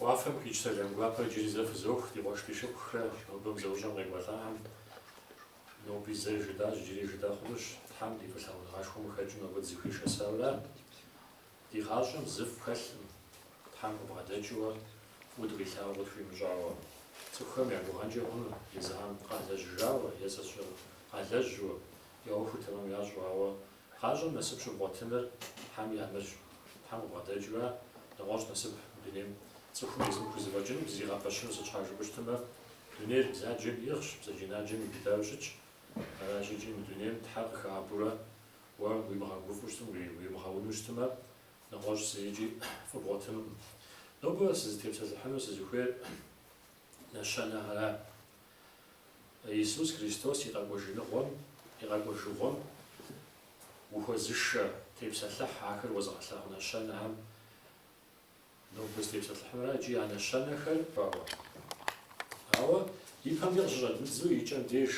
Уафэм къикӏ сэлам гуапэр иджыри зэ фызох, ди къуэш ди шыпхъухрэ нобэ мы зэӏущӏэм къекӏуэлӏахэм. Ноби зэ жытӏащ, иджыри жытӏэ хъунущ, Тхьэм ди фӏылъагъуныгъэшхуэм къыхэкӏыу нобэ дызыхуишэсауэра? Ди гъащӏэм зы фӏы хэлъым, Тхьэм къыбгъэдэкӏыуэ, фӏыуэ дыкъилъагъуу къытхуимыщӏауэ. Цӏыхухэм я гугъэнкӏэ хъуну, езыхьэм къалэжьыжауэ, е зэщӏэкъалэжьу, я ӏуэхур тэмэм ящӏу, ауэ Гъащӏэм насып щыбгъуэтыныр Тхьэм нэмыщӏ. Тхьэм къыбгъэдэкӏыурэ, нэгъуэщӏ насып мы дунейм цӏыхум езым хузэфӏэкӏынукъым зригъэпэщыну сыт щхьэ жыпӏэу щытмэ, дунейр бзаджэм иӏыгъщ, бзаджэнаджэм иубыдауэ щытщ. Аращ икӏи мы дунейм Тхьэ къыхэӏэбурэ уэ уимыгъэгуфӏу щытым, уимыгъэуну щытымэ, нэгъуэщӏ зырикӏи фӏы бгъуэтынукъым. Нобэ сызытепсэлъыхьыну сызыхуейр нэщэнэхьэра. Иисус Христос и къэкӏуэжыныгъуэм, и къэкӏуэжыгъуэм ухуэзышэ, тепсэлъыхь ахэр уэзыгъэлъагъу нэщэнэхэм. Нобэ сызытепсэлъыхьынур икӏи а нэщэнэхэр хъуауэ. Ауэ и пэм деж къыщыщӏэддзу и кӏэм деж,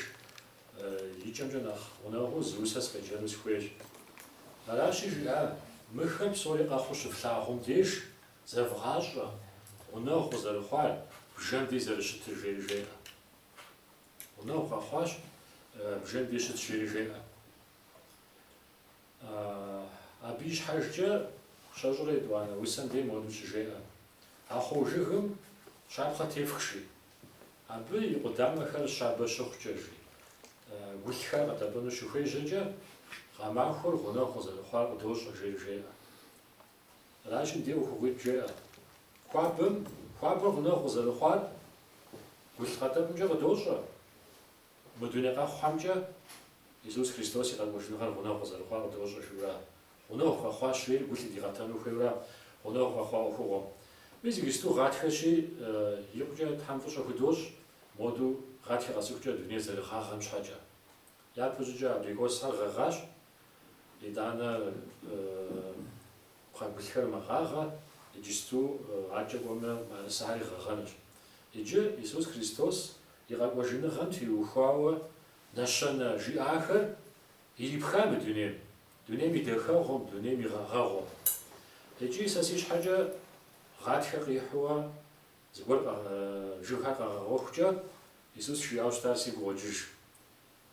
и кӏэмкӏэ нэхъ гъунэгъуу зы усэ сыкъеджэну сыхуейщ. Аращи жиӏа, мыхэр псори къэхъуу щывлъагъум деж, Зэвгъащӏэ, гъунэгъу къызэрыхъуар бжэм дей зэрыщытыр, жери жеӏэ. Гъунэгъу къэхъуащ бжэм дей щыт, жери жеӏэ. Абы и щхьэжкӏэ щэщӏрэ етӏуанэ усэм дей моду щыжеӏэ. Ахъо жыгым щапхъэ тефх, жи. Абы и къудамэхэр щабэ щыхъукӏэ, жи. Гулъхэр къэтӏэпӏыну щыхуежьэкӏэ, гъэмахуэр гъунэгъу къызэрыхъуар къыдощӏэ, жери жеӏэ. Аращи, ди ӏуэхугъуитӏ жеӏэ. Хуабэм, хуабэр гъунэгъу къызэрыхъуар гулъ къэтӏэпӏымкӏэ къыдощӏэ. Мы дуней къэхъухьэмкӏэ Иисус Христос и къэкӏуэжыныгъэр гъунэгъу къызэрыхъуар къыдощӏэ жиӏэурэ, гъунэгъу къэхъуащи, гу лъыдигъэтэну хуейурэ гъунэгъу къэхъуа ӏуэхугъуэм. Мис иджыпсту гъатхэщи, икъукӏэ Тхьэм фӏыщӏэ худощӏ, модэу гъатхэ къэсыхукӏэ дунейр зэрыгъагъэм щхьэкӏэ. Япэщӏыкӏэ абрикосхэр гъэгъащ. Итӏанэ пхъэгулъхэр мэгъагъэ, иджысту адэкӏэ кӏуэмэ мыӏэрысэхьэри гъэгъэнущ. Иджы Исус Христос и къэкӏуэжыныгъэм теухуауэ нэщэнэ жиӏахэр ирипха мы дунейм, дунейм и дахэгъуэм, дунейм и гъэгъэгъуэм. Икӏи сэ си щхьэкӏэ гъатхэ къихьуэ зыгуэр жыгхэр къэгъэгъуэхукӏэ Исус жиӏауэ щытар сигу къокӏыж.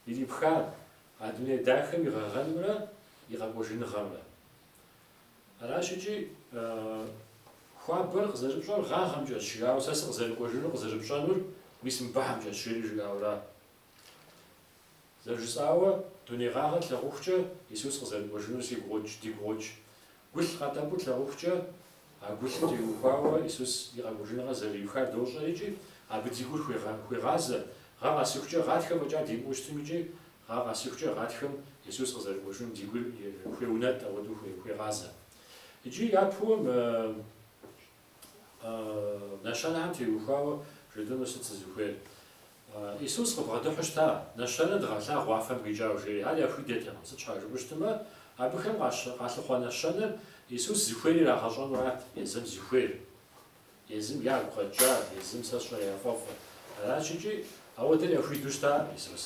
Ирипха а дуней дахэм и гъэгъэнымрэ и къэкӏуэжыныгъэмрэ. Аращ икӏи хуабэр къызэрыпщӏэр гъагъэмкӏэщ жиӏауэ сэ сыкъызэрыкӏуэжынур къызэрыпщӏэнур мис мыбыхьэмкӏэщ жери жиӏауэра. Зэрыжысӏауэ, дуней гъагъэр тлъагъухукӏэ Исус къызэрыкӏуэжынур сигу къокӏ, дигу къокӏ. Гулъ къэтӏэпӏу тлъагъухукӏэ, а гулъым теухуауэ Исус и къэкӏуэжыныгъэр зэриухар дощӏэр икӏи абы ди гур хуегъазэ, гъэ къэсыхукӏэ гъатхэ фӏэкӏа димыӏэу щытым икӏи гъэ къэсыхукӏэ гъатхэм Исус къызэрыкӏуэжынум ди гур хуеунэтӏ, ауэдэу хуегъазэ. Икӏи япэу Нэщэнэхэм теухуауэ жыдыну сыт сызыхуейр? Исус къыбгъэдыхьу щыта, нэщэнэ дыгъэлъагъу уафэм къикӏауэ, жери. Ар яхуидэртэкъым. Сыт щхьа жыпӏэу щытмэ, абыхэм къалъыхъуэ нэщэнэр Исус зыхуейр ирагъэщӏэнурат, езым зыхуейр, езым ягу къэкӏар, езым сэ сщӏэр яфӏэфӏыр. Аращ икӏи ауэдэр яхуидэу щыта Исус.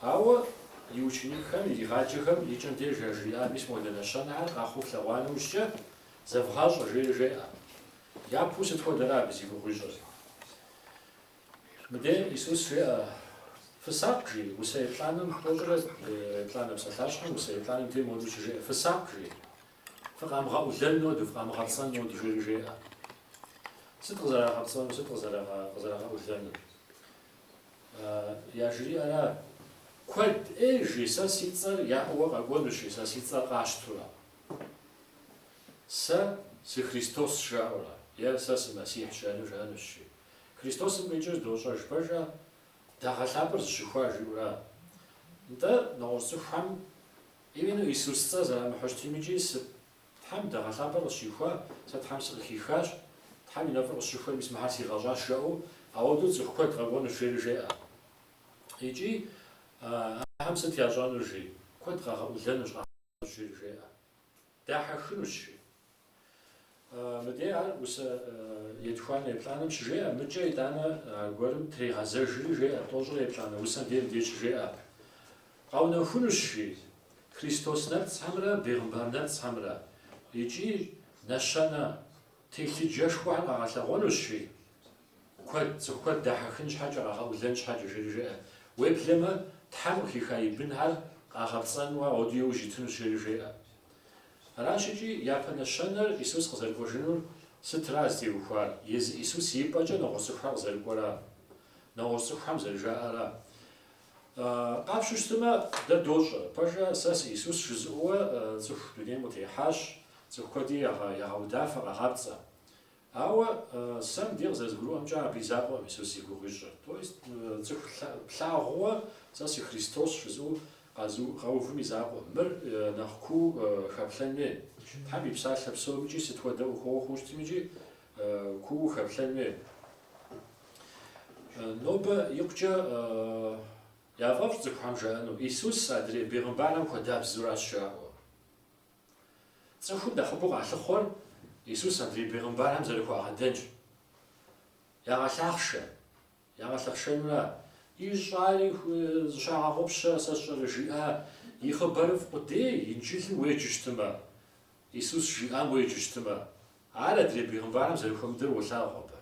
Ауэ и ученикхэм иригъаджэхэм и кӏэм деж яжриӏар, Мис модэ нэщэнэхэр къэхъуу флъэгъуа нэужькӏэ, Зэвгъащӏэ, жери жеӏэ. Япэу сыт хуэдэра абы зи гугъуищӏыр? Мыдей Исус жеӏэ, Фысакъ, жи, усэ еплӏанэм тӏощӏрэ еплӏанэ псалъащхьэм усэ еплӏанэм дей моду щыжеӏэ, Фысакъ, жи, фыкъамыгъэӏулэн ноду, фыкъамыгъэпцӏэн ноду, жери жеӏэ. Сыт къызэрагъэпцӏэнур, сыт къызэрагъэӏулэнур? Яжриӏэра, Куэд ӏей, жи, сэ си цӏэр яӏэуэ къэкӏуэнущи, сэ си цӏэр къащтурэ. Сэ сы Христос жаӏэурэ е Сэ сы Мэссихь жаӏэну жаӏэнущ жи. Христосым къикӏыр дощӏэж пэжа? Дагъэ лъапӏэр зыщыхуа жиӏэура? Нтӏэ, нэгъуэщӏ цӏыхухэм именно Исус цӏэ зэрамыхьу щытым икӏи сы Тхьэм дагъэ лъапӏэр къысщихуа, сэ Тхьэм сыкъыхихащ, Тхьэм и нэфӏыр къысщыхуэ, мис мыхьэр сигъэщӏащ жаӏэу ауэдэу цӏыху куэд къэкӏуэнущ жери жеӏэ. Икӏи Ахэм сыт ящӏэнур жи? Куэд къагъэӏулэнущ Ахэм. Жери жеӏэ, дахьэхынущ, жи. Мыдей ар усэ етхуанэ еплӏанэм щыжеӏэ, мыкӏэ итӏанэ аргуэрым трегъэзэжри жеӏэ, тӏощӏрэ еплӏанэ усэм дей мыдей щыжеӏэ. Къэунэхунущ, жи. Христос нэпцӏхэмрэ бегъымбар нэпцӏхэмрэ икӏи нэщэнэ телъыджэшхуэхэр къагъэлъэгъуэнущ, жи. Куэд, цӏыху куэд дахьэхын щхьэкӏэ, къагъэӏулэн щхьэкӏэ, жери жеӏэ. Уеблэмэ, Тхьэм къыхиха и бынхэр къагъэпцӏэну ар ауэдэу яужь итынущ, жери жеӏэ. Аращ икӏи япэ нэщэнэр Исус къызэрыкӏуэжынур сытра зытеухуар, езы Исус и пӏэкӏэ нэгъуэщӏ цӏыхухэр къызэрыкӏуэра, нэгъуэщӏ цӏыхухэм зэрыжаӏэра. Къапщу щытымэ, дэ дощӏэ, пэжа, сэ сы Исус жызыӏэуэ цӏыху дунейм къытехьащ, цӏыху куэди ягъэудафэ, къагъапцӏэ. Ауэ сэ мыдей къызэрызгурыӏуэмкӏэ абы и закъуэм Исус зи гугъу ищӏыр. То есть цӏыху плъагъууэ сэ сы Христос жызыӏэу къэувым и закъуэм. Мыр нэхъ куу хэплъэн хуей. Тхьэм и псалъэ псомикӏи сыт хуэдэ ӏуэхугъуэ хъуу щытми икӏи куу хэплъэн хуей. Нобэ икъукӏэ яфӏэфӏщ цӏыхухэм жаӏэну, Исус адрей бегъымбархэм хуэдабзэуращ жаӏэу. Цӏыхум нэхъыбэу къалъыхъуэр Исус адрей бегъымбархэм зэрыхуагъэдэнщ. Ягъэлъахъшэ. Ягъэлъэхъшэнура? Ищӏари зыщагъэгъупщэ, сэ сщӏэрэ, жиӏа, и Хъыбарыфӏ къудей, Инджылым уеджэ щытымэ, Исус жиӏам уеджэ щытымэ. Ар адрей бегъымбархэм зэрыхуэмыдэр уолъагъу абы.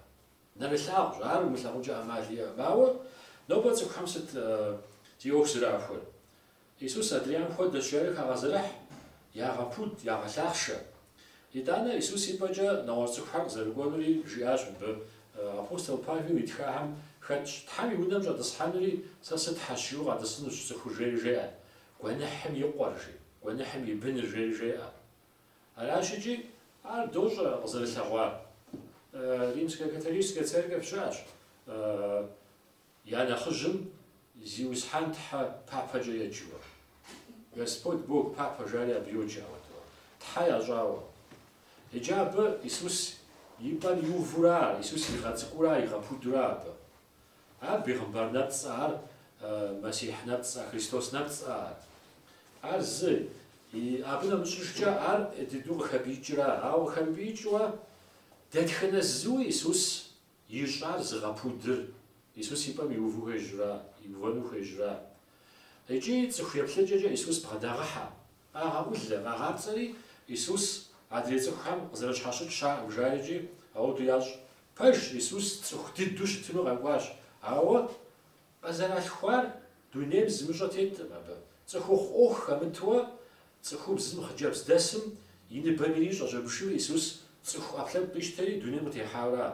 Нэрылъагъущ, ар умылъагъункӏэ ӏэмал иӏэкъым. Ауэ нобэ цӏыхухэм сыт зи ӏуэху зэрахуэр? Исус адрейхэм хуэдэщ, жари хагъэзэрыхь, ягъэпуд, ягъэлъахъшэ. Итӏанэ Исус и пӏэкӏэ нэгъуэщӏ цӏыхухэр къызэрыкӏуэнури жиӏащ мыбы. Апостол Павел итхахэм хэтщ, Тхьэм и унэм щӏэтӏысхьэнури, сэ сытхьэщ жиӏу къэтӏысынущ цӏыхур жери жеӏэ, гуэныхьым и къуэр, жи, гуэныхьым и быныр жери жеӏэ. Аращ икӏи, ар дощӏэ къызэрылъэгъуар. Римскэ католическэ церковь щыӏэщ. Я нэхъыжьым Зиусхьэн Тхьэ папэкӏэ еджэуэ, Господь Бог папэ жари абы йоджэ, ауэдэу, Тхьэ ящӏауэ. Иджы абы Исус и пӏэм иувура ар, Исус игъэцӏыкӏура, игъэпудура абы? Ар бегъымбар нэпцӏэ, ар Мэссихь нэпцӏэ, Христос нэпцӏэ ар. Ар зы, абы нэмыщӏыжкӏэ ар дыдэу къыхэпӏиикӏыра, ауэ къыхэмыпӏиикӏыуэ дэтхэнэ зыуи Исус Ищӏар зыгъэпудыр, Исус и пӏэм иуву хуежьура, иувэну хуежьура? Икӏи цӏыху еплъыкӏэкӏэ Исус бгъэдагъыхьэ, къагъэӏулэ, къагъапцӏэри, Исус адрей цӏыхухэм къызэрыщхьэщыкӏ щыӏэкъым жаӏэ икӏи ауэду ящӏ. Пэж, Исус цӏыху дыдэу щытыну къэкӏуащ, ауэ Къызэралъхуар дунейм зымыщӏэ теткъым абы. Цӏыхухъу ӏуэху хэмытуэ цӏыхубзым хъыджэбз дэсым и ныбэм ири щӏэжьэбшыу Исус цӏыху ӏэпкълъэпкъ къищтэри дунейм къытехьауэра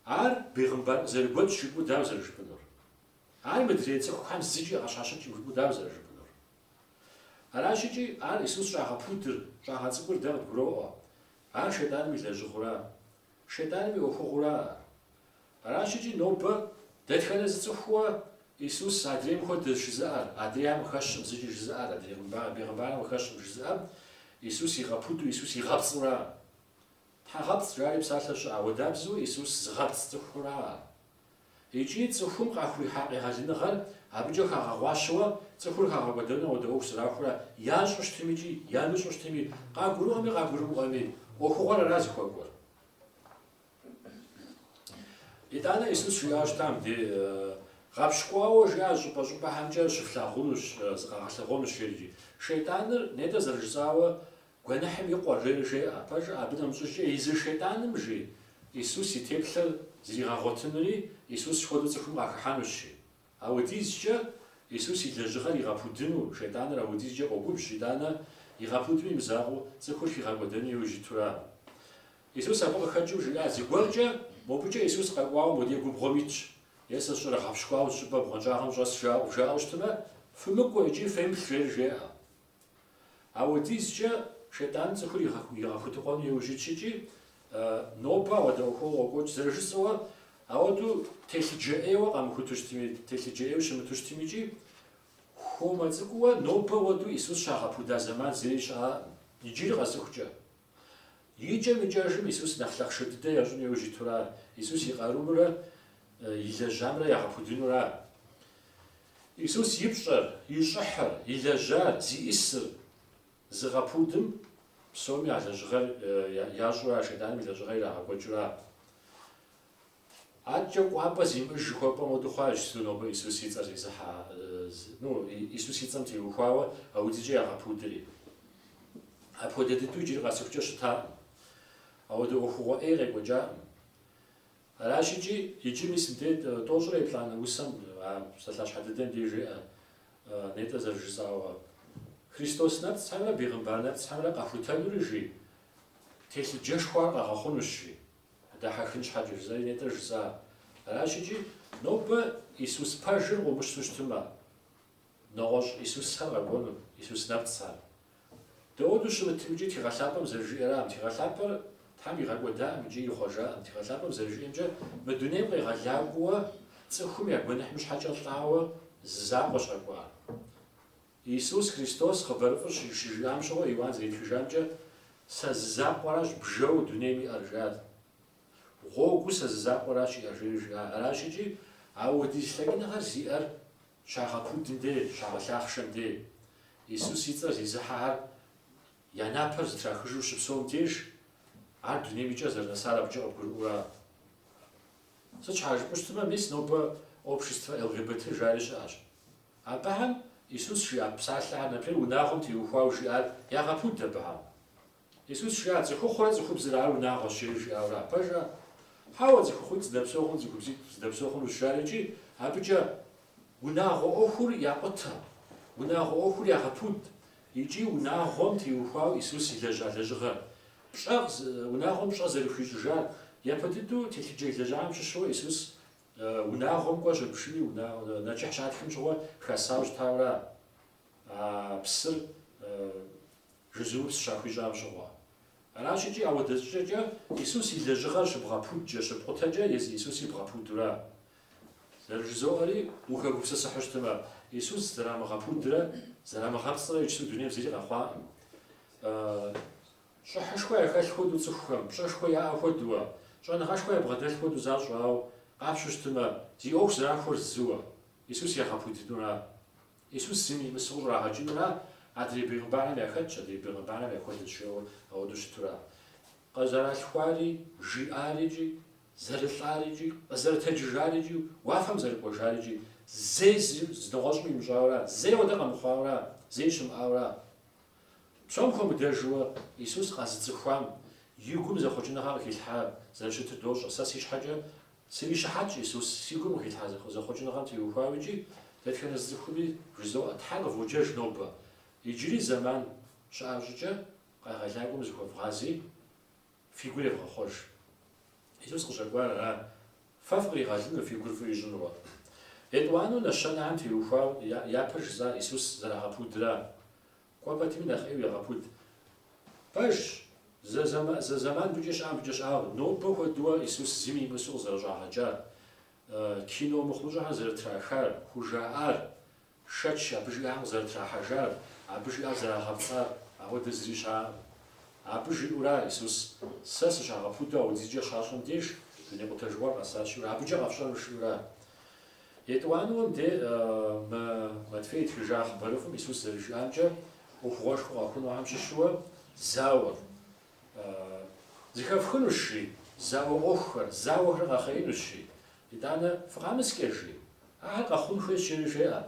Ар бегъымбар къызэрыгуэкӏ жыпӏэу дауэ зэрыжыпӏэнур? Ар мыдрей цӏыхухэм зыкӏи къащхьэщыкӏкъым жыпӏэу дауэ зэрыжыпӏэнур? Аращӏыкӏи Ар Исус щӏагъэпудыр, щӏагъэцӏыкӏур дэ къыдгуроӏуэ. Ар Шейтӏаным и лэжьыгъэура? Шейтӏаным и ӏуэхугъуэура Ар? Аращӏыкӏи нобэ дэтхэнэ зы цӏыхууэ Исус адрейм хуэдэщ жызыӏэр, адрейм къыхэщкъым зыкӏи жызыӏэр, адрей хъымбар, бегъымбарым къыхэщкъым жызыӏэм Исус игъэпуду, Исус игъэпцӏура? Тхьэгъэпцӏ жари псалъэ щыӏэ, ауэдабзэу Исус зыгъэпцӏ цӏыхура? Икӏи цӏыхум къахуихьа къегъэлыныгъэр абыкӏэ хагъэгъуащэуэ цӏыхур хагъэкӏуэдэнуэ ауэдэ ӏуэху зэрахуэурэ ящӏу щытымикӏи ямыщӏу щытыми, къагурыӏуэми къагурымыӏуэми, ӏуэхугъуэр ара зыхуэкӏуэр? Итӏанэ Исус жиӏауэ щытам де гъэпщкӏуауэ жиӏа щӏыпӏэ-щӏыпӏэхэмкӏэ щыфлъагъунущ, зыкъагъэлъэгъуэнущ жери. Шейтӏаныр, нетӏэ зэрыжысӏауэ, гуэныхьым и къуэ, жери жеӏэ. Пэжу абы нэмыщӏыжкӏэ езы Шейтӏаным, жи, Исус и теплъэр зригъэгъуэтынури, Исус хуэдэу цӏыхум къахыхьэнущ, жи. Ауэдизкӏэ Исус и лэжьыгъэр игъэпудыну Шейтӏаныр ауэдизкӏэ къогубжь, итӏанэ, игъэпудми имызакъуэу, цӏыхур хигъэкӏуэдэну иужь итура. Исус абы къыхэкӏыу жиӏа, Зыгуэркӏэ мобыкӏэ Исус къэкӏуауэ модей губгъуэм итщ, Е сэ сщӏэрэ, гъэпщкӏуауэ зыщӏыпӏэ бгъуэнщӏагъым щӏэс, жаӏэу, жаӏэу щытмэ, фымыкӏуэ икӏи фемыплъ, жери жеӏэ. Ауэдизкӏэ шейтӏаным цӏыхур игъэхутыкъуэну иужь итщ икӏи, нобэ ауэдэ ӏуэхугъуэ къокӏуэкӏ, зэрыжысӏауэ, ауэдэу телъыджэ ӏейуэ къамыхуту щытми, телъыджэ ӏейуэ щымыту щытми икӏи, хуэмэ цӏыкӏууэ нобэ ауэдэу Исус щагъэпуда зэман зыри щыӏэӏым, иджыри къэсыхукӏэ. Икӏэм-икӏэжым Исус нэхъ лъахъшэ дыдэ ящӏын иужь итура, Исус и къарумрэ и лэжьамрэ ягъэпудынура. Исус и пщӏэр, и щӏыхьыр, и лэжьар, зиӏысыр зыгъэпудым псоми а лэжьыгъэр ящӏура, Шэйтӏаным и лэжьыгъэр ирагъэкӏуэкӏыура. Адэкӏэ кӏуапӏэ зимыӏэж жыхуэпӏэм хуэдэу хъуащ, сыту нобэ Исус и цӏэр зезыхьэ, Исус и цӏэм теухуауэ ауэдизкӏэ ягъэпудри. Апхуэдэ дыдэу иджыри къэсыхукӏэ щытаӏым. Ауэдэ ӏуэхугъуэ ӏей къекӏуэкӏаӏым. Аращ икӏи, иджы мис мыдей тӏощӏрэ еплӏанэ усэм, а псалъащхьэ дыдэм деж жеӏэ нетӏэ зэрыжысӏауэ, Христос Нэпцӏхьэмрэ Бегъымбар Нэпцӏхьэмрэ къэхутэнури, жи, телъыджэшхуэхэр къагъэхъунущ, жи. Дахьэхын щхьэкӏэ жызаи нетӏэ жысӏа. Аращ икӏи, нобэ Исус пэжыр къыумыщту щытымэ, нэгъуэщӏ Исусхэр къэкӏуэну, Исус нэпцӏхьэр. Дауэду щымытым икӏи Тхыгъэ Лъапӏэм зэрыжиӏэрам, Тхыгъэ Лъапӏэр Тхьэм игъэкӏуэдаӏым икӏи ихъуэжаӏым, Тхыгъэ Лъапӏэм зэрыжиӏэмкӏэ, мы дунейм къегъэлакӏуэуэ цӏыхум я гуэныхьым щхьэкӏэ лӏауэ зы закъуэщ къэкӏуар. Иисус Христос хъыбарыфӏыр щыжиӏам щыгъуэ Иуан зэритхыжамкӏэ, Сэ зы закъуэращ бжэу дунейм иӏэр, жиӏа. Гъуэгуу Сэ зы закъуэращ иӏэр, жери жиӏа. Аращ икӏи, ауэдиз лъэкӏыныгъэр зиӏэр щагъэпудым де, щагъэлъахъшэм де. Иисус и цӏэр зезыхьэхэр я напэр зытрахыжу щыпсэум деж, Ар дунейм и кӏэ зэрынэсар абыкӏэ къыбгурыӏуэура. Сыт щхьа жыпӏэу щытмэ, мис нобэ обществэ ЛГБТ жари щыӏэщ. Абыхэм Исус жиӏа псалъэхэр например, унагъуэм теухуауэ жиӏар ягъэпуд абыхэм. Исус жиӏа цӏыхухъурэ цӏыхубзрэ ар унагъуэщ жери жиӏауэра, пэжа? Хьэуэ, цӏыхухъуитӏ зэдэпсэу хъуну, цӏыхубзитӏ зэдэпсэу хъунущ жари икӏи абыкӏэ унагъуэ ӏуэхур якъутэ, унагъуэ ӏуэхур ягъэпуд икӏи унагъуэм теухуауэ Исус илэжьа лэжьыгъэр, пщӏэ, унагъуэм пщӏэ зэрыхуищӏыжар япэ дыдэу телъыджэ илэжьахэм щыщу Исус Унагъуэм кӏуэ щыпшыни нэчыхь щатхым щыгъуэ хэсау щытаура псыр жызумыпс щахуищӏам щыгъуэ? Аращ икӏи, ауэдэ щӏыкӏэкӏэ Исус и лэжьыгъэр щыбгъэпудкӏэ, щыпкъутэкӏэ езы Исуси бгъэпудура? Сэри жызоӏэри ухэгупсысыхьу щытымэ, Исус зэрамыгъэпудрэ зэрамыгъэпцӏрэ иджыпсу дунейм зыри къэхъуаӏым. Щӏыхьышхуэ яхэлъ хуэдэу цӏыхухэм, пщӏэшхуэ яӏэ хуэдуэ, щӏэныгъэшхуэ ябгъэдэлъ хуэдэу защӏэ, ауэ къапщу щытымэ, зи ӏуэху зэрахуэр зыуэ, Исус ягъэпудынура? Исус зым имысу щӏрагъэкӏынура? Адрей бегъымбархэм яхэтщ, адрей бегъымбархэм яхуэдэщ жиӏэуэ ауэдэу щытура? Къызэралъхуари, жиӏарикӏи, зэрылӏарикӏи, къызэрытэджыжарикӏи, уафэм зэрыкӏуэжарикӏи, зэи зы нэгъуэщӏым имыщӏауэра? Зэи уэдэ къэмыхъуауэра? Зэи щымыӏауэра? Псом хуэмыдэжуэ Исус къэзыцӏыхуам и гум зэхъуэкӏыныгъэ къыхилъхьар зэрыщытыр дощӏэ. Сэ си щхьэкӏэ срищыхьэтщ Исус си гум къыхилъхьа зэхъуэкӏыныгъэм теухуауэ икӏи дэтхэнэ зы цӏыхуми жызоӏэ, Тхьэр къыводжэж нобэ. Иджыри зэман щыӏэ щӏыкӏэ Къегъэлакӏуэм зыхуэвгъази, Фи гур евгъэхъуэж. Исус къыщӏэкӏуар ара? Фэ фыкъригъэлыну, фи гур фӏы ищӏынуэ? Етӏуанэу нэщэнэхэм теухуау япэр жысӏар Исус зэрагъэпудра? Кӏуэ пэтми нэхъ ӏейуэ ягъэпуд. Пэжщ, зэ зэман мыбыкӏэ щыӏэм мыбыкӏэ щыӏаӏым, нобэ хуэдэуэ Исус зыми имысу къызэрыщӏагъэкӏар, кино мыхъумыщӏэхэр зэрытрахар, хужаӏар, Шэч абы жиӏам къызэрытрахьэжар, абы жиӏар зэрагъэпцӏар, ауэдэ зыри щыӏаӏым. Абы жиӏэура Исус, Сэ сыщагъэпудэу ауэдизкӏэ щащӏым деж, дуней къутэжыгъуэр къэсащ, жиӏэурэ, абыкӏэ къэфщӏэну жиӏэура? Етӏуанэм де Матфей итхыжа хъыбарыфӏым Исус зэрыжиӏамкӏэ, ӏуэхугъуэшхуэ къэхъунухэм щыщу зауэр, зыхэфхынущ, жи, зауэ ӏуэхухэр, зауэхэр къэхъеинущ, жи, Итӏанэ фыкъэмыскӏэ, жи. Ахэр къэхъун хуейщ, жери жеӏэ.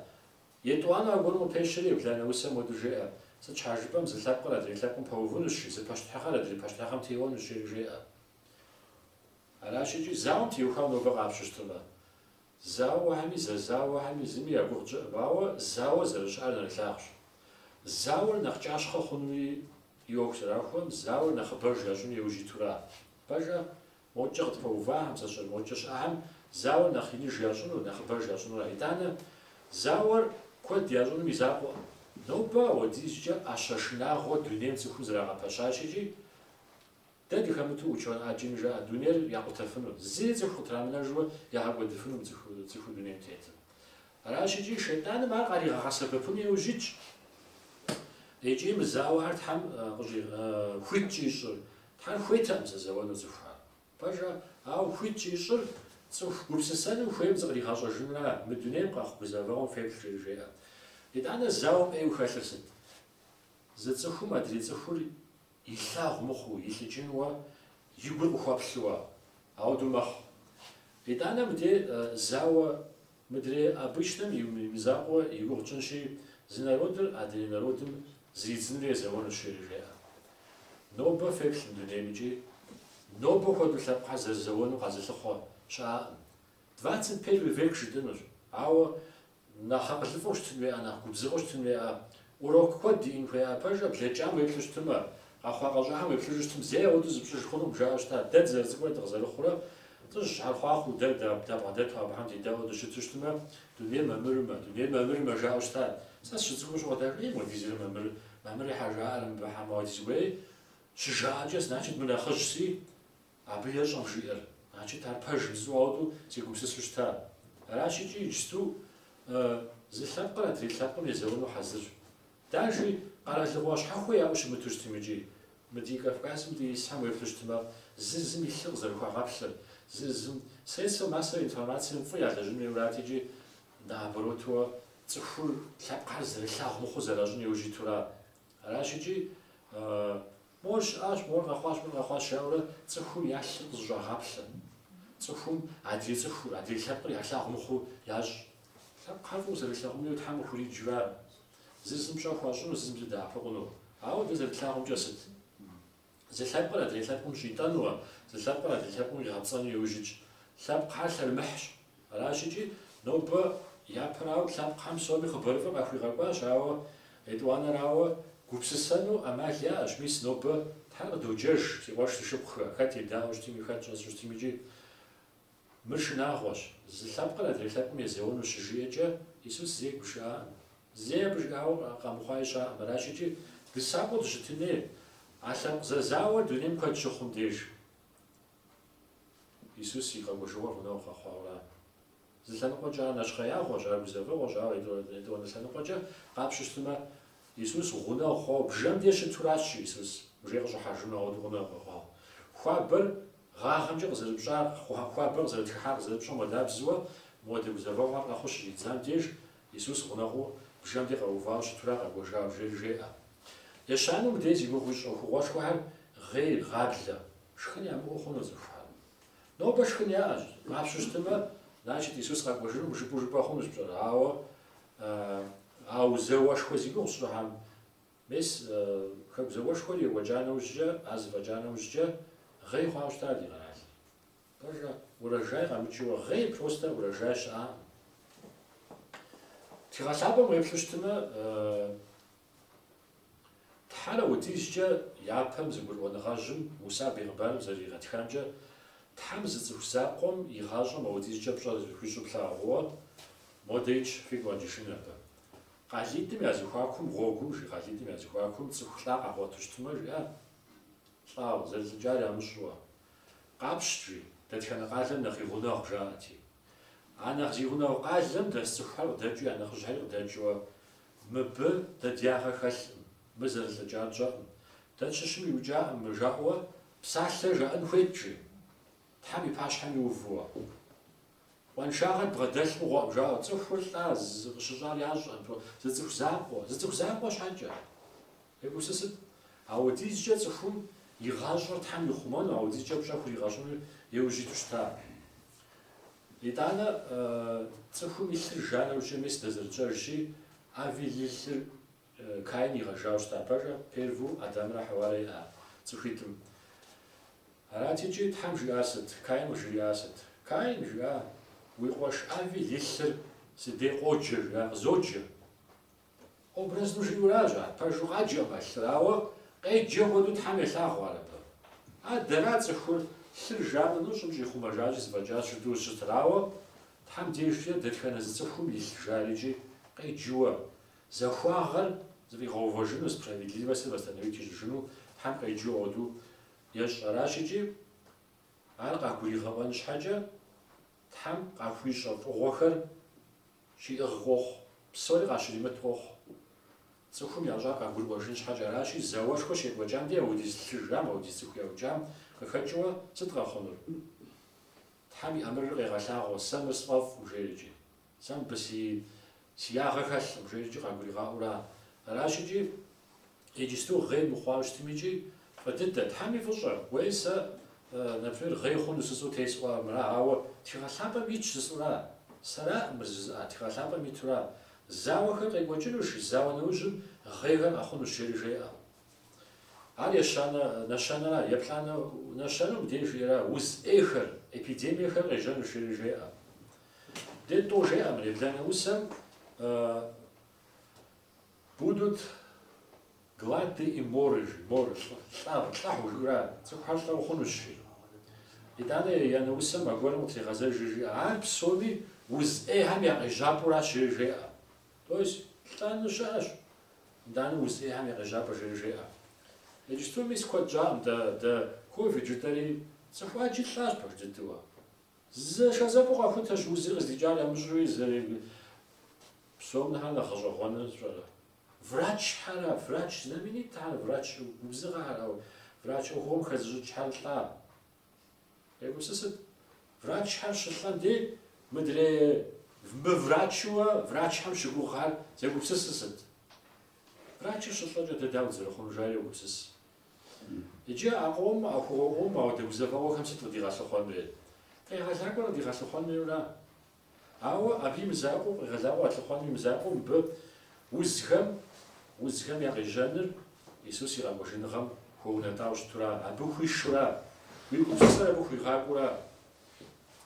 Етӏуанэу аргуэру къыпещэри, ебланэ усэм уэду жеӏэ, Сыт щхьэ жыпӏэм зы лъэпкъыр адрей лъэпкъым пэувынущ, жи, зы пащтыхьыгъэр адрей пащтыхьыгъэм теуэнущ, жери жеӏэ. Аращ икӏи зауэм теухуауэ нобэ къапщу щытымэ. Зауэхэми зэзауэхэми зыми я гугъу тщӏыӏым, ауэ зауэ зэрыщыӏэр нэрылъагъущ. Зауэр нэхъ кӏащхъэ хъуну и ӏуэху зэрахуэӏым, зауэр нэхъыбэж ящӏыну еужь итура. Пэжа, Мокӏэ къытпэувахэм зэщӏыр мокӏэ щыӏэхэм зауэр нэхъ иныж ящӏыну, нэхъыбэж ящӏынура? Итӏанэ, зауэр куэд ящӏыным и закъуэӏым. Нобэ ауэдизкӏэ ӏэщэ шынагъуэ дунейм цӏыхум зрагъэпэщащ икӏи, дэ дыхэмыту учон ӏэджэми жаӏэ дунейр якъутэфыну, зыри цӏыху къытрамынэжуэ ягъэкӏуэдыфыну цӏыху дунейм тетым. Аращ икӏи Шейтӏаным ар къаригъэгъэсэбэпыну еужь итщ. Икӏи мы зауэхэр Тхьэм хуит щӏищӏыр, Тхьэр хуейтэкъым зэзэуэну цӏыхухэр. Пэжа, ауэ хуит щӏищӏыр цӏыху гупсысэным хуейм зыкъригъэщӏэжынра, мы дунейм къэхъу гузэвэгъуэм феплъ жери жеӏэ. Итӏанэ зауэм ӏейуэ хэлъыр сыт? Зы цӏыхум адрей цӏыхур илъагъу мыхъуу, илӏыкӏынуэ, и гур къыхуэплъыуэ, ауэдэу мэхъу. Итӏанэ мыдей зауэ Мыдрей обычнэм и мызакъуэ и гугъу тщӏынщи, зы народыр адрей народым зридзынури езэуэнущ жери жеӏэ. Нобэ феплъ мы дунейм икӏи нобэ хуэдэу лъэпкъхьэр зэрызэуэну къэзылъыхъуэ щыӏэкъым. Двадцать первый век жытӏынущ, ауэ нэхъ акъылыфӏэу щытын хуеӏэ, нэхъ губзыгъэу щытын хуеӏэ Урок куэд диӏэн хуеӏэ, пэжа, блэкӏам уеплъу щытымэ, къэхъуа-къэщӏахэм уеплъыжу щытым, зэи ауэдэу зыпщӏыж хъунукъым, жаӏэу щытат. Дэ дызэрыцӏыкӏурэ дыкъызэрыхъурэ лӏыжьхэр хъуахъуэу, дэ дабгъэдэту абыхэм дедаӏуэу дыщыту щытымэ, дунейр мамырымэ, дунейр мамырымэ, жаӏэу щытат. Сэ сыщыцӏыкӏуу щыгъуэ, ей, мыгъуэдизрэ мамыр, мамыр щхьэ жаӏэрэ мыбыхэм, уадизгуей, щыжаӏэкӏэ, значит, мы нэхъыжьщи, Абы ещӏэ мы жиӏэр, значит, ар пэж жысӏэу ауэду сегупсысу щыта. Аращ икӏи иджысту зы лъэпкъыр адрей лъэпкъым езэуэну хьэзырщ. Дажи, къэралыгъуэ щхьэхуэ яӏэу щымыту щытым икӏи. Мы ди Кавказым де исхэм уеплъу щытмэ, зыр зым и лъыр къызэрыхуагъэплъыр, зыр зым средства массовой информацием фӏы ялэжьын хуейурат икӏи, наоборотуэ, цӏыхур лъэпкъхэр зэрылъагъу мыхъуу зэращӏын иужь итура. Аращ икӏи, Мор щыӏащ, мор къэхъуащ, мор къэхъуащ жаӏэурэ цӏыхум я лъыр къызэщӏагъаплъэ. Цӏыхум адрей цӏыхур, адрей лъэпкъыр ялъагъу мыхъуу ящӏ. Лъэпкъхьэр фӏыуэ зэрылъагъуну Тхьэм къыхуриджа. Зыр зым пщӏэ хуащӏыну, зыр зым зыдэӏэпыкъуну. Ауэ дэ зэрытлъагъумкӏэ сыт? Зы лъэпкъыр адрей лъэпкъым щӏитӏэнуэ, зы лъэпкъыр адрей лъэпкъым къигъэпцӏэну иужь итщ. Лъэпкъхьэр лъэрымыхьщ, Аращикӏи, нобэ япэрауэ лъэпкъхэм псоми хъыбарыфӏыр къахуигъэкӏуащ, ауэ етӏуанэрауэ, гупсысэну ӏэмал яӏэщ. Мис, нобэ Тхьэр къыдоджэж, си къуэш си шыпхъухэ, хэт едаӏуэу щытми, хэт щӏэсу щытми икӏи. Мыр шынагъуэщ. Зы лъэпкъыр адрей лъэпкъым езэуэну щыжиӏэкӏэ, Исус зэи гушыӏакъым. Зэи абы жиӏауэ къэмыхъуа щыӏэкъым. Аращикӏи, дысакъыу дыщытын хуей, а лъэпкъ зэзауэр дунейм куэд щыхъум деж. Исус и къэкӏуэжыгъуэр гъунэгъу къэхъуауэра? Зы лъэныкъуэкӏэ ар нэщхъеягъуэщ, ар гузэвэгъуэщ, ауэ етӏуанэ лъэныкъуэкӏэ къапщтэу щытмэ, Исус гъунэгъу хъуауэ бжэм деж щытуращ жи Исус, Бжи къыщӏыхьэжыну ауэду гъунэгъу къэхъуауэ. Хуабэр гъагъэмкӏэ къызэрыпщӏа, хуабэр къызэрытхыхьар къызэрыпщӏэм хуэдабзэуэ, мыуэдэ гузэвэгъуэхэр къэхъуу щыщӏидзам деж, Исус гъунэгъуу бжэм де къэувауэ щытура къэкӏуэжауэ жери жеӏэ. Ещанэу мыдрей зи гугъу ищӏ ӏуэхугъуэшхуэхэр гъей, гъаблэ. Шхын ямыӏэу хъуну цӏыхухэм? Нобэ шхын яӏэщ. Ар щыщтмэ, значит, Исус къэкӏуэжынукъым жыпӏэу жыпӏэ хъунущ пщӏэрэ? Ауэ а зауэшхуэ зи гугъу сщӏыхэм, мис Хэку зауэшхуэр екӏуэкӏа нэужькӏэ, ар зэфӏэкӏа нэужькӏэ гъей хъуауэ щыта ди къэралыр? Пэжа, урожай къэмыкӏыуэ, гъей просто урожай щыӏакъым. Тхыгъэ лъапӏэм уеплъу щытмэ, Тхьэр аудизкӏэ япэм зэгурыӏуэныгъэжьым Муса бегъымбарым зэрыригъэтхамкӏэ, Тхьэм зы цӏыху закъуэм и гъащӏэм аудизкӏэ пщӏэ зыхуищӏу плъагъууэ, модей икӏи фигу къэкӏыжын абы. Къалитӏым я зэхуакум гъуэгум, жи къалитӏым я зэхуакум цӏыху лӏа къагъуэту щытмэ, жиӏэ, лӏауэ, зэрылӏыкӏар ямыщӏууэ. Къапщт, жи, дэтхэнэ къалэм нэхъ и гъунэгъу, жаӏэти. А нэхъ зи гъунэгъу къалэм дэс цӏыхухэр къыдэкӏыу я нэхъыжьхэри къыдэкӏыуэ. Мыбы дэ дягъэ хэлъкъым, мы зэрылӏыкӏар тщӏэкъым. Дэ тщыщым иукӏакъым мы жаӏэуэ, псалъэ жаӏэн хуейт, жи, Тхьэм и пащхьэм иувууэ. Къуаншагъэ дбгъэдэлъ мыгъуэкъым, жаӏэу, цӏыхур лӏа, къыщыщӏар ящӏэкъым, зы цӏыху закъуэ, зы цӏыху закъуэ щхьэкӏэ. Егупсысыт, аудизкӏэ цӏыхум и гъащӏэр Тхьэм ихъумэну, аудизкӏэ пщӏэ хуригъэщӏыну иужь иту щыта. Итӏанэ цӏыхум и лъыр жа нэужькӏэ мис дэ зэрытщӏэжщи, Авель и лъыр Каин игъэжауэ щыта. Пэжу перву Адамрэ Хьэуарэ иӏа цӏыхуитӏым. Арати, икӏи Тхьэм жиӏар сыт? Каин къыжриӏар сыт? Каин, жиӏа, уи къуэш Авель и лъыр си дей къоджэ, жиӏа, къызоджэ. Образну жиӏэуращ ар, пэжу къаджэкъым а лъыр, ауэ къеджэ хуэдэу Тхьэм елъагъу ар абы. А дэра цӏыхур лъыр жа нэужь щӏым щӏихъумэжащи зэфӏэкӏащ жытӏу щытыр, ауэ Тхьэм дежкӏэ дэтхэнэ зы цӏыхум и лъ жар икӏи къеджыуэ, захуагъэр зэфӏигъэувэжыну, справедливостыр восстановить ищӏыжыну Тхьэм къеджэу хуэдэу ещӏ аращ икӏи ар къагуригъэӏуэн щхьэкӏэ Тхьэм къахуищӏэ фӏыгъуэхэр Щиӏыгъ къохъу, псори къащыримыт къохъу. Цӏыхум ящӏар къагурыӏуэжын щхьэкӏэ аращи, зауэшхуэ щекӏуэкӏам дей аудиз лъы жам, аудиз цӏыху яукӏам къыхэкӏыуэ сыт къэхъунур? Тхьэм и ӏэмырыр къегъэлъагъуэ, сэ мыр сфӏэфӏкъым, жери икӏи. Сэ мыбы си ягъэ хэлъкъым, жери икӏи къагуригъаӏуэу ара? Аращ икӏи, Иджысту гъей мыхъуауэ щытым икӏи фӏы дыдэ, Тхьэм и фӏыщӏэ, уей сэ, например, гъей хъуну жысӏу тесӏуа мыра, ауэ тхыгъэ лъапӏэм итщ жысӏура? Сэраӏым мыр жызыӏа, тхыгъэ лъапӏэм итура? Зауэхэр къекӏуэкӏынущ, зауэ нэужьым гъейхэр къэхъунущ, жери жеӏэ. Ар ещанэ нэщэнэра, еплӏанэ нэщэнэу мыбдеж жиӏэра, уз ӏейхэр, эпидемиехэр къежьэнущ, жери жеӏэ. Дэ тӏу жеӏэ мыр, ебланэ усэм Будут глады и моры, жи, моры, лӏы, лӏагъу, лӏыхьу, жыӏэурэ ар, цӏыхухэр лӏыгъу хъунущ, жи. Итӏанэ еянэ усэм аргуэрым къытригъэзэжыр, жиӏэ. Ар псоми уз ӏейхэм я къежьапӏэуращ, жери жеӏэ. То есть лӏэну щыӏэщ, итӏанэ уз ӏейхэм я къежьапӏэ, жери жеӏэ. Иджыпсту мис куэд щӏаӏым, дэ, дэ ковид жытӏэри цӏыху ӏэджи лӏащ пэж дыдэу. Зэшэзэпэу къэхутэщ узыр къыздикӏар ямыщӏуи зэрег псом нэхъэ нэхъ гъэщӏэгъуэныр пщӏэрэ? Врачхьэра? Врач знаменитхьэр, врач губзыгъэхэр, ау врач ӏуэхугъуэм хэзыщӏыкӏхьэр лӏа. Егупсысыт. Врачхьэр щылӏэм дей мыдрей мыврачыуэ врачхьэм щыгугъхьэр зегупсысыр сыт? Врачыр щылӏэкӏэ дэ дауэ дызэрыхъунур жаӏэри йогупсыс. Иджы а къом, а ӏуэхугъуэм, ауэдэ гузэвэгъуэхэм сыт къыдигъэлъыхъуэн хуейр? Къегъэлакӏуэр къыдигъэлъыхъуэн хуейура. Ауэ абы и мызакъуэу, къегъэлакӏуэ къэлъыхъуэным и мызакъуэу мыбы узхэм, узхэм я къежьэныр Иисус и къэкӏуэжыныгъэм хуэунэтӏауэ щытура? Абы хуишура? Уи гупсысэр абы хуигъакӏуэура?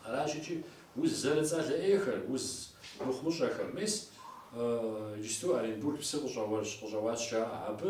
Аращ икӏи уз зэрыцӏалэ ӏейхэр, уз мыхъумыщӏэхэр. Мис иджысту Оренбург псы къыщӏэу, къыщӏэуащ жаӏэ. Абы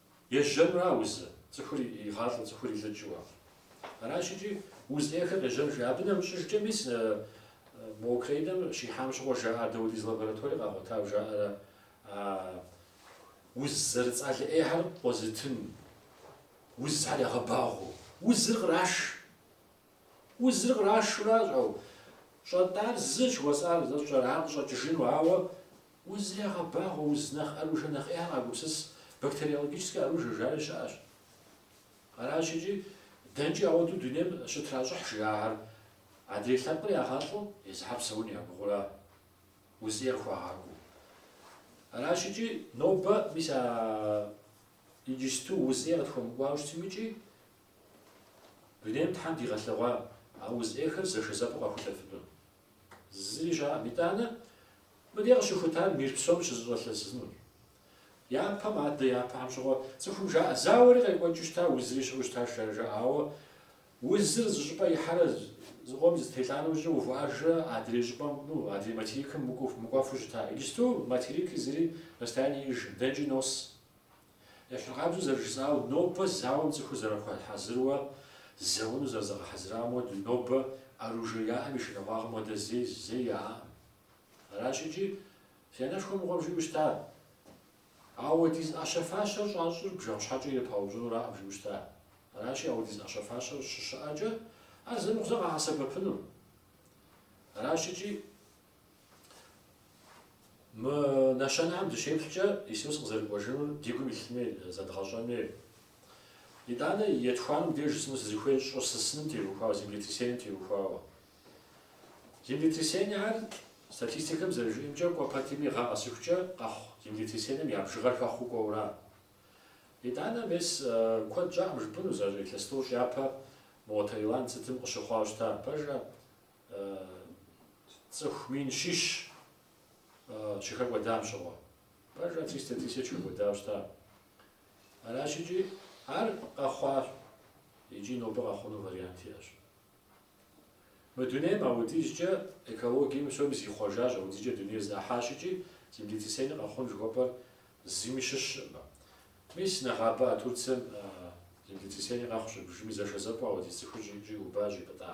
Ежьэнура узыр, цӏыхур игъалӏэу, цӏыхур илӏыкӏыуэ. Аращ икӏи уз ӏейхэр къежьэну, жи. Абы нэмыщӏыжкӏэ мис мо Украинэм щихьам щыгъуэ жаӏэр дауэдиз лаборатори къагъуэтау жаӏэрэ а уз зэрыцӏалэ ӏейхэр къозытын узхэр ягъэбагъуэу. Узыр къраш. Узыр кърашуращ, ау щӏэтӏар зы жыхуэсӏар зэщӏэрар къыщӏэкӏыжыну, ауэ Уз ягъэбагъуэ, уз нэхъ ӏэружэ нэхъ ӏейхэр къагупсыс, бактериологическэ ӏэружэ жари щыӏэщ. Аращ икӏи дэнкӏи ауэдэу дунейм щытращӏыхь жи ахьэр, адрей лъэпкъыр ягъэлӏэу езыхьэр псэун ягугъура уз ӏейр хуагъакӏуэу. Аращ икӏи нобэ мис а иджысту уз ӏей къытхуэмыкӏуауэ щытым икӏи дунейм Тхьэм дигъэлъэгъуа а уз ӏейхэр зэшэзэпэу къахулъэфыну. Зыри щыӏэӏым. Итӏанэ мыдей къыщыхутар мир псом щызэщӏэлъэсынущ. Япэм адэ япэхэм щыгъуэ цӏыхум жаӏэ, Зауэри къекӏуэкӏыу щыта, узри щыӏэу щытащ, жари жаӏэ, ауэ узыр зы щӏыпӏэ ихьэрэ зыкъом зэтелӏа нэужькӏэ увыӏэжрэ адрей щӏыпӏэм, ну, адрей материкым мыкӏуэфу щыта. Иджысту материки зыри расстояние иӏэжӏым, дэнэкӏи нос. Ещхьыркъабзэу зэрыжысӏауэ, нобэ зауэм цӏыхур зэрыхуэхьэзыруэ зэуэну зэрызэгъэхьэзырам хуэдэу, нобэ оружие яӏэм и шынагъуагъым хуэдэ зэи зэи яӏаӏым. Аращ икӏи си анэшхуэ мыгъуэм жиӏэу щыта. Ауэдиз ӏэщэ-фащэр щӏащӏыр бжэгъу щхьэкӏэ ирыпаупщӏынураӏым жиӏэу щыта. Аращи, ауэдиз ӏэщэ-фащэр щыщыӏэкӏэ, ар зэ мыхъу зэ къагъэсэбэпыну. Аращ икӏи Мы нэщэнэхэм дыщеплъкӏэ, Исус къызэрыкӏуэжынур ди гум илъын хуей, зэдгъэщӏэн хуей. Итӏанэ етхуанэм деж жысӏэну сызыхуейр щӏыр сысыным теухуауэ, землетрясением теухуауэ. Землетрясениехэр, статистикэм зэрыжиӏэмкӏэ, кӏуэ пэтми гъэ къэсыхукӏэ къэхъу землетрясением я бжыгъэр хэхъуу кӏуэура. Итӏанэ мес куэд щӏакъым жыпӏэну, зы илъэс тӏощӏ япэ мо Таиланд сытым къыщыхъуауэ щыта, пэжра? Цӏыху мин щищ щыхэкӏуэдам щыгъуэ. Пэжра, триста тысяч хэкӏуэдауэ щыта. Аращ икӏи ар къэхъуащ икӏи нобэ къэхъуну вариант иӏэщ. Мы дунейм аудизкӏэ экологием псоми зихъуэжащ, аудизкӏэ дунейр зэӏыхьащ икӏи землетрясение къэхъун жыхуэпӏэр зыми щыщкъым. Мис нэгъабэ а Турцием землетрясение къэхъущ, бжыми зэшэзэпӏэу аудиз цӏыхур щӏиубащ ипӏытӏа.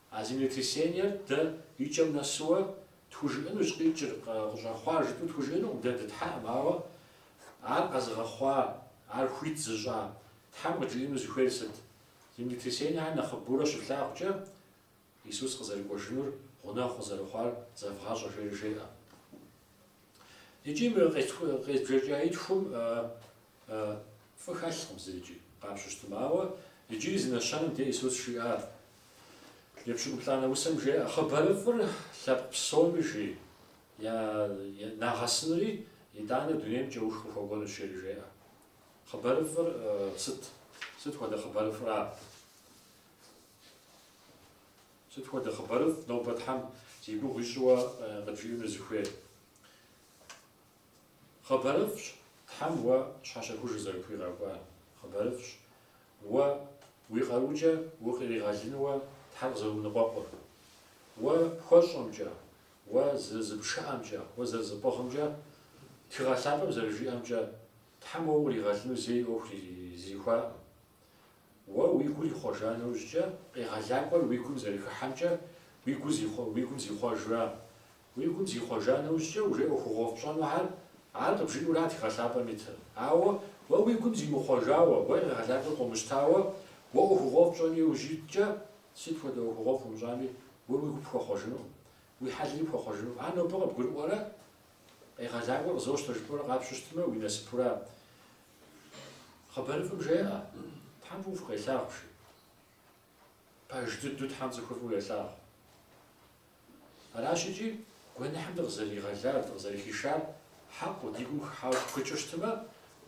А землетрясениер дэ и кӏэм нэсууэ тхужыӏэнущ, къикӏыр къыщӏэхъуар жытӏэу тхужыӏэнукъым, дэ дытхьэкъым, ауэ ар къэзыгъэхъуа, ар хуит зыщӏа Тхьэм къыджиӏэну зыхуейр сыт? Землетрясениехэр нэхъыбэурэ щыфлъагъукӏэ, Исус къызэрыкӏуэжынур гъунэгъу къызэрыхъуар зэвгъащӏэ жери жеӏэ. Икӏи мы къезбжэкӏа итхум Фӏы хэлъкъым зэ иджы, къапщыщтым. Ауэ иджыри зы нэщэнэм де Исус жиӏар, Епщыкӏуплӏанэ усэм жеӏэ, Хъыбарыфӏыр лъэпкъ псоми жи, нагъэсынури итӏанэ дунейм кӏэух къыхуэкӏуэнущ, жери жеӏэ. Хъыбарыфӏыр сыт? Сыт хуэдэ хъыбарыфӏра? Сыт хуэдэ хъыбарыфӏ нобэ Тхьэм зи гугъу ищӏыуэ къыбжиӏэну зыхуейр? Хъыбарыфӏщ Тхьэм уэ щхьэщэхужыр зэрыпхуигъэкӏуар, хъыбарыфӏщ уэ уи къарукӏэ укъригъэлынуэ Тхьэр къызэрыумыныкъуэкъур. Уэ пхуэщӏэмкӏэ, уэ зэрызыпшыӏэмкӏэ, уэ зэрызыпӏыгъымкӏэ, Тхыгъэ Лъапӏэм зэрыжиӏэмкӏэ, Тхьэм уэ укъригъэлыну зэи ӏуэху зэрихуакъым. Уэ уи гур ихъуэжа нэужькӏэ, къегъэлакӏуэр уи гум зэрыхыхьэмкӏэ, уи гум зихъуэжра Уи гум зихъуэжа нэужькӏэ уже ӏуэхугъуэфӏ пщӏэнухьэр, ар къыбжиӏура Тхыгъэ Лъапӏэм итыр. Ауэ уэ уи гум зимыхъуэжауэ, уэ къегъэлакӏуэр къыумыщтауэ, уэ ӏуэхугъуэфӏ пщӏэн иужь уиткӏэ, сыт хуэдэ ӏуэхугъуэфӏ умыщӏами, уэ уи гу пхуэхъуэжынукъым, уи хьэлри пхуэхъуэжынукъым. Ар нобэ къыбгурыӏуэрэ, къегъэлакӏуэр къызощтэ жыпӏэурэ къапщыщтмэ, уи насыпура? Хъыбарыфӏым жеӏэ, Тхьэм фӏыуэ фыкъелъагъу, жи. Пэж дыдэу Тхьэм цӏыхур фӏыуэ елъагъу. Аращ икӏи, гуэныхьым дыкъызэригъэлар, дыкъызэрыхишар хьэкъыу, ди гум хыхьауэ тпхыкӏыу щытмэ,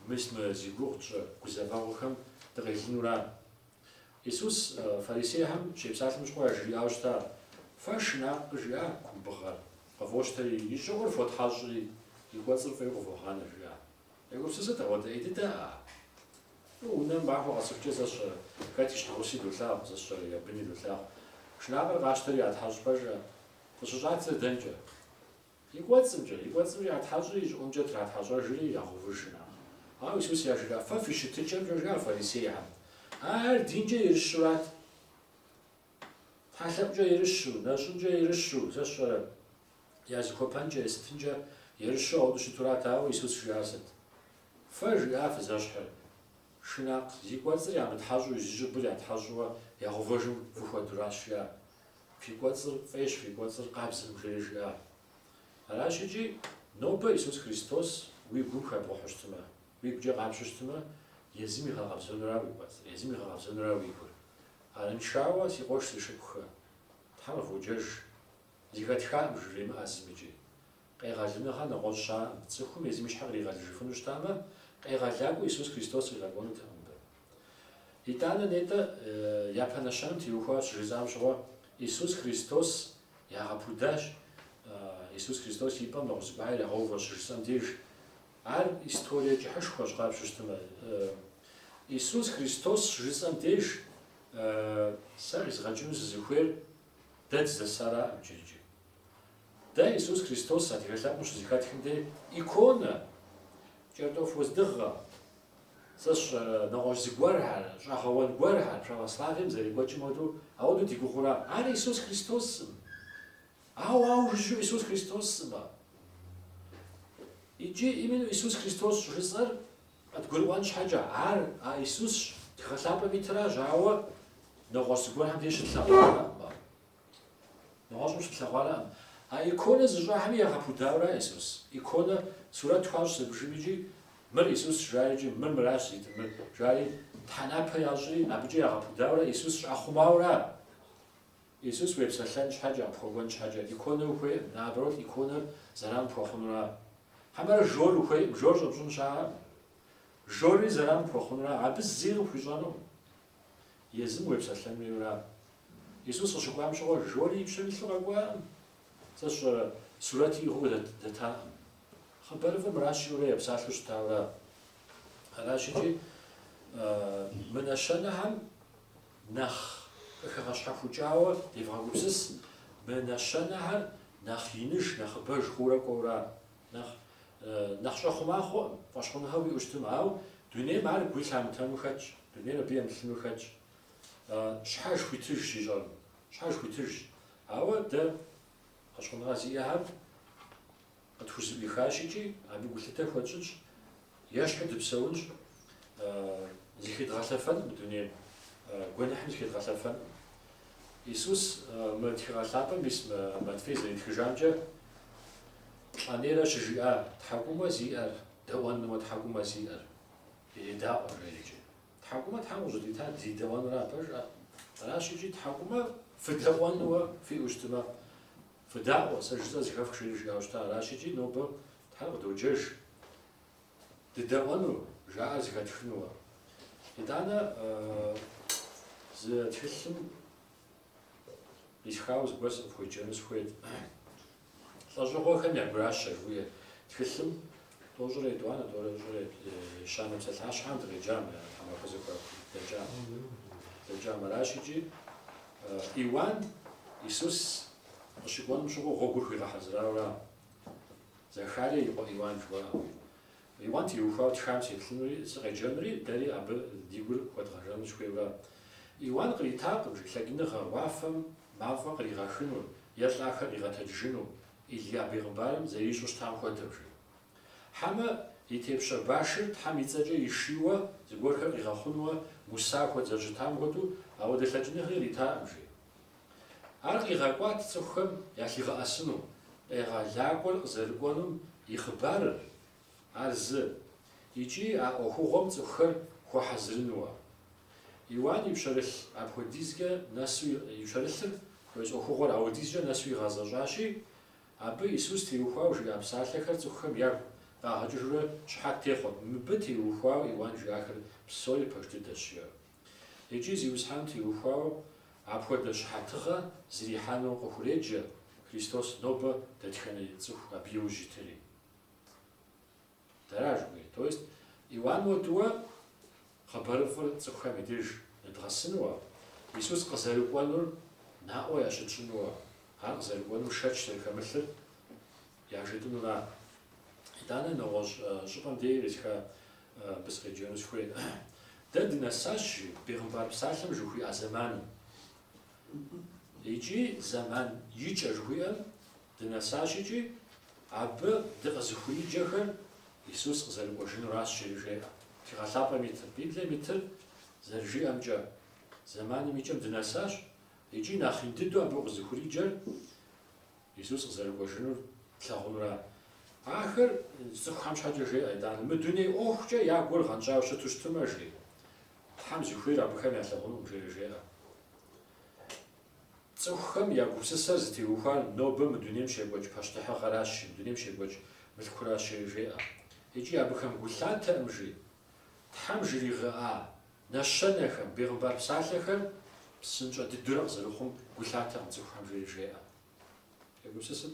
мис мы зи гугъу тщӏы гузэвэгъуэхэм дыкъелынура? Исус фарисейхэм щепсалъэм щыгъуэ яжриӏауэ щыта, Фэ шынакъ, жиӏа, кумбыгъэр къывощтэри, и щӏыӏур фотхьэщӏри, и кӏуэцӏыр фӏейуэ къывогъанэ жиӏа? Егупсысыт, ауэдэ ӏей дыдэӏа? Унэм махуэ къэсыхукӏэ, сэ сщӏэрэ, хэт и щхьэгъуси долъагъу, сэ сщӏэрэ я быни долъагъу. Шынакъыр къащтэри ятхьэщӏ пэжа? Къыщыщӏадзэр дэнкӏэ? И кӏуэцӏымкӏэ. И кӏуэцӏым ятхьэщӏри, и щӏыӏумкӏэ тратхьэщӏэжри, ягъэувыж шынакъыр. Ауэ Исус яжриӏа, Фэ фи щытыкӏэмкӏэ, жиӏа фарисейхэм, ар динкӏэ ерыщурат, тхьэлъэӏукӏэ ерыщу, нэщӏынкӏэ ерыщу, сэ сщӏэрэ, Я зыхуэпэнкӏэ, есытынкӏэ ерыщу ауэдэу щытурат, ауэ Исус жиӏар сыт? Фэ жиӏа фызэщхьыр? Шынакъ зи кӏуэцӏыр ямытхьэщӏу зи щӏыбыр ятхьэщӏурэ ягъэувыжым фыхуэдуращ жиӏа. Фи кӏуэцӏыр фӏейщ, фи кӏуэцӏыр къабзэкъым жери жиӏа. Аращ икӏи, нобэ Исус Христос уи гум хэбгъэхьэу щытмэ, уигукӏэ къапщтэу щытмэ, езым игъэкъэбзэнура уи кӏуэцӏыр, езым игъэкъэбзэнура уи гур. Арыншауэ, си къуэш си шыпхъухэ, Тхьэм къыводжэж. Зыхэтхакъым жыремыӏэ зым икӏи. Къегъэлыныгъэ нэгъуэщӏ щаӏым, цӏыхум езым и щхьэр къригъэлыжыфыну щытамэ, къегъэлакӏуэ Исус Христос къигъэкӏуэнутэкъым мыбы. Итӏанэ нетӏэ, япэ нэщэнэм теухуауэ щыжысӏам щыгъуэ Исус Христос ягъэпудащ, Исус Христос и пӏэм нэгъуэщӏ зыгуэр ягъэуващ щыжысӏэм деж. Ар историе кӏыхьышхуэщ, къапщтэу щытмэ, Исус Христос щыжысӏэм деж сэ къизгъэкӏыну сызыхуейр Дэ дызэсаракъым иджырыкӏи. Дэ Иисус Христос адыгэ лъэпкъым щызыхэтхым де иконэ, кӏэртӏоф уэздыгъэ, сэ сщӏэрэ, нэгъуэщӏ зыгуэрхэр, щӏэгъэуэн гуэрхэр православием зэрекӏуэкӏым хуэдэу ауэдэу ди гугъэура. Ар Иисус Христоскъым. Ауэ ауэ жыжьэу Иисус Христоскъым. Иджы именно Иисус Христос щӏыжысӏэр Къыдгурыӏуэн щхьэкӏэ, ар а Исус тхыгъэ лъапӏэм итыращ, ауэ нэгъуэщӏ зыгуэрхэм деж щытлъэгъуарэкъым ар. Нэгъуэщӏым щытлъэгъуарэкъым. А иконэ зыщӏахэми ягъэпудауэра Исус? Иконэ сурэту хуащӏ зыбжым икӏи, Мыр Исусщ, жари икӏи, Мыр мыращ зитыр, мыр, жари тхьэнапэ ящӏри, абыкӏэ ягъэпудауэрэ Исус щӏахъумауэра? Иисус уепсэлъэн щхьэкӏэ, къыпхуэкӏуэн щхьэкӏэ, иконэ ухуейкъым, наоборот, иконэр зэран пхуэхъунура? Хьэмэрэ жор ухуейкъым, жор щӏэпщӏын щыӏэкъым. Жорри зэран пхуэхъунура? Абы зыри къыпхуищӏэнукъым. Езым уепсэлъэн хуейуэра? Иисус къыщыкӏуам щыгъуэ, жори и пщэм илъу къэкӏуакъым. Сэ сщӏэрэ, сурэти иӏыгъыу дэтакъым. Хъыбарыфӏыр мыращ жиӏэурэ епсалъэу щытауэра? Аращ икӏи, мы нэщэнэхэм нэхъ къыхэгъэщхьэхукӏауэ девгъэгупсыс, мы нэщэнэхэр нэхъ иныж, нэхъыбэж хъуурэ кӏуэура? Нэхъ щӏэхъума хъуӏым, фӏэщхъуныгъэ уиӏэу щытым, ауэ дунейм ар гуи лъамытэну хэтщ, дунейр абы емылъыну хэтщ. Щхьэж хуитыжщ ищӏэрым, щхьэж хуитыжщ, ауэ дэ фӏэщхъуныгъэ зиӏэхэр. Къытхузыӏуихащ икӏи абы гулъытэ хуэтщӏынщ, ещхьу дыпсэунщ, зыхедгъэлъэфэнкъым мы дунейм, гуэныхьым зыхедгъэлъэфэнкъым. Исус мы тхыгъэ лъапӏэм ис Матфей зэритхыжамкӏэ плӏэнейрэ щыжиӏа тхьэкӏумэ зиӏэр, дэӏуэнуэ тхьэкӏумэ зиӏэр, иредаӏуэ жери икӏи. Тхьэкӏумэ Тхьэм къыщӏыдитар дыдэӏуэнура абы жаӏэ. Аращ икӏи тхьэкӏумэ фыдэӏуэнуэ фиӏэу щытмэ, Фыдаӏуэ, сэ жысӏэ зыхэфх, жери жиӏауэ щыта, аращ икӏи нобэ Тхьэр къыдоджэж дыдэӏуэну, жаӏэр зыхэтхынуэ. Итӏанэ зы тхылъым къисхауэ зыгуэр сыкъыфхуеджэну сыхуейт. Лӏэщӏыгъуэхэм я гуращэ жыхуиӏэ тхылъым Тӏощӏрэ етӏуанэ, тӏощӏрэ ещанэ псалъащхьэм дыкъеджам, я тхьэмахуэ зэхуэдэкӏам. Дэкӏам. Аращ икӏи Иуан Исус къыщыкӏуэным щыгъуэ гъуэгур хуигъэхьэзырауэра? Захарие и къуэ Иуан жыхуаӏэм. Иуан теухуауэ тхам сеплъынури, сыкъеджэнури, дэри абы ди гур хуэдгъэжэну сыхуейуэра? Иуан къритакъым жи лъэкӏыныгъэ уафэм мафӏэ къригъэхыну е лӏахэр къигъэтэджыну, Илия бегъымбарым зэрищӏу щытам хуэдэу, жи. Хьэмэ, и тепщэ башыр Тхьэм и цӏэкӏэ ишийуэ, зыгуэрхэр къигъэхъунуэ Муса хуэдэ зэрыщытам хуэдэу, ауэдэ лъэкӏыныгъи иритакъым, жи. Ар къигъэкӏуат цӏыхухэм ялъигъэӏэсыну, къегъэлакӏуэр къызэрыкӏуэнум и хъыбарыр, Ар зы, икӏи а ӏуэхугъуэм цӏыхухэр хуэхьэзырынуэ. Иуан и пщэрылъ апхуэдизкӏэ нэсу и пщэрылъыр, хуейщ ӏуэхугъуэр ауэдизкӏэ нэсу игъэзэщӏащи, абы Исус теухуауэ жиӏа псалъэхэр цӏыхухэм ягу къагъэкӏыжурэ щыхьэт техъуэт, мыбы теухуауэ Иуан жиӏахэр псори пэж дыдэщ, жиӏэу. Икӏи Зиусхьэным теухуауэ апхуэдэ щыхьэтыгъэ зэрихьэну къыхуреджэ, Христос нобэ дэтхэнэ цӏыху абы иужь итыри. Дэра жыхуиӏэр. То есть Иуан хуэдэуэ хъыбарыфӏыр цӏыхухэм и деж ныдгъэсынуэ, Исус къызэрыкӏуэнур наӏуэ ящытщӏынуэ, ар къызэрыкӏуэнум шэч зэрыхэмылъыр яжетӏынура? Итӏанэ нэгъуэщӏ щӏыпӏэм деи итха абы сыкъеджэну сыхуей. Дэ дынэсащ, жи, Бегъымбар псалъэм жыхуиӏа зэманым. Икӏи зэман икӏэ жыхуиӏэм Дынэсащ икӏи абы дыкъызыхуриджэхэр Исус къызэрыкӏуэжынуращ жери жеӏэ. Тхыгъэ лъапӏэм итыр, Библием итыр зэрыжиӏэмкӏэ, зэманым и кӏэм дынэсащ икӏи нэхъ ин дыдэу абы къызыхуриджэр Исус къызэрыкӏуэжынур тлъагъунура. Ахэр цӏыхухэм щхьэкӏэ жеӏэ, итӏанэ, мы дуней ӏуэхукӏэ я гур гъэнщӏауэ щыту щытмэ, жи, Тхьэм зыхуейр абыхэм ялъагъунукъым, жери жеӏэ. Цӏыхухэм я гупсысэр зытеухуар нобэ мы дунейм щекӏуэкӏ пащтыхьыгъэращ, мы дунейм щекӏуэкӏ мылъкуращ, жери жеӏэ. Икӏи абыхэм гу лъатэкъым, жи. Тхьэм жригъэӏа нэщэнэхэм, бегъымбар псалъэхэр псынщӏэ дыдурэ къызэрыхъум гу лъатэкъым цӏыхухэм, жери жеӏэ. Фегупсысыт?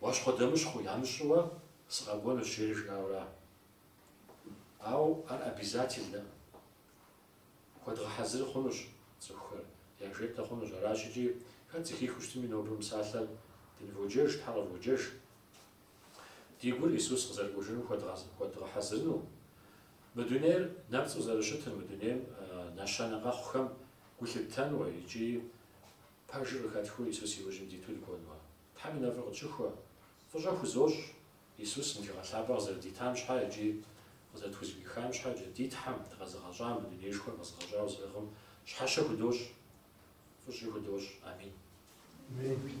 Уащхъуэдэмыщхъу ямыщӏыуэ сыкъэкӏуэнущ жери жиӏауэра. Ауэ ар обязательнэӏым. Хуэдгъэхьэзыр хъунущ цӏыхухэр, яжетӏэ хъунущ. Аращ икӏи хэт зыхихыу щытми, нобэ мы псалъэр дыныводжэж, Тхьэр къыводжэж. Ди гур Исус къызэрыкӏуэжыным хуэдгъэхьэзырыну. Мы дунейр нэпцӏу зэрыщытыр, мы дунейм нэщэнэ къэхъухэм гу лъыттэнуэ икӏи пэжыр къыхэтхыу Исус и ужьым диту дыкӏуэнуэ. Тхьэм и нэфӏыр къытщыхуэ. Фӏыщӏэ хузощӏ Исус мы тхыгъэ лъапӏэ къызэрыдитам щхьэ икӏи къызэрытхузэӏуихам щхьэ икӏи ди Тхьэм, дыкъэзыгъэщӏам, мы дунейшхуэр къэзыгъэщӏауэ зыӏыгъым щхьэщэ худощӏ. Фӏыщӏи худощӏ. Амин. Амин.